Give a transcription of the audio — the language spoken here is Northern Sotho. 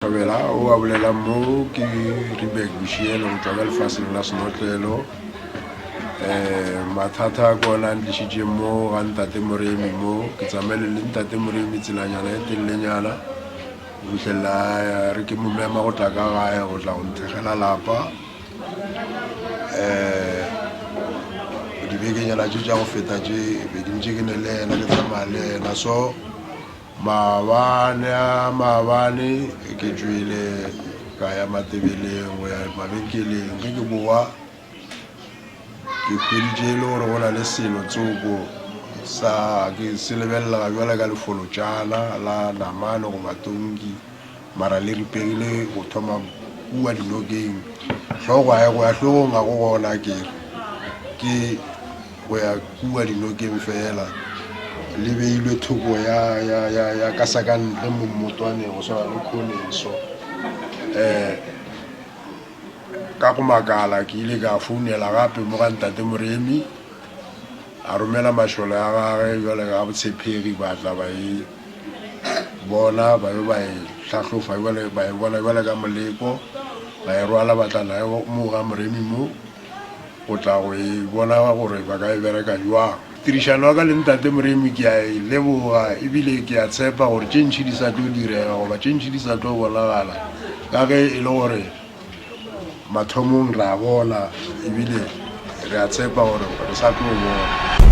Thobela o a bolelang mo ke Ribek Bushielo go tšwa ka lefaseng la senotlelo um eh, mathata a kona a ntlišitše mo ga ntate moremi mo ke tsamaele le ntate moremi tselanyana e telelenyana go fitlhelela eh, re ke mo mema go tla ka gae go tla go nthekgela lapa um dibekenyana tše tša go feta tše be ke ntše ke ne le ena ke tsamaya le ena so Maabane a maabane ge ke tšwele ka ya Matebeleng go ya mabenkeleng, ge ke bowa ke hweditše e le gore go na le selo tsoko sa ke se lebelelega bjale ka lefolotšana la namane goba tonki. Mara le ripegile go thoma kua dinokeng. Hlogo a go ya hlogong ga go gona ke re. Ke go ya kua dinokeng fela. Le beilwe thoko ya, ya, ya, ya ka sa ka ntle mo mmotwaneng go swana le khoneng so. Eh, ka go makala ke ile ka founela gape mo ga ntate Moremi. A romela mašole a gage jwale ga botshepegi ba tla ba e. bona ba be ba e hlahlofa jale ba e bona jale ka moleko ba e rwala ba tla nae mo ga moremi mo o tla go e bona gore ba ka e bereka jwang tirišano ya ka le ntate moremi ke a e leboga ebile ke a tshepa gore tše ntšhi di sa tlo direga goba tše ntšhi di sa tlo bonagala ka ge e le gore Mathomong re a bona ebile re a tshepa gore re sa tlo bona.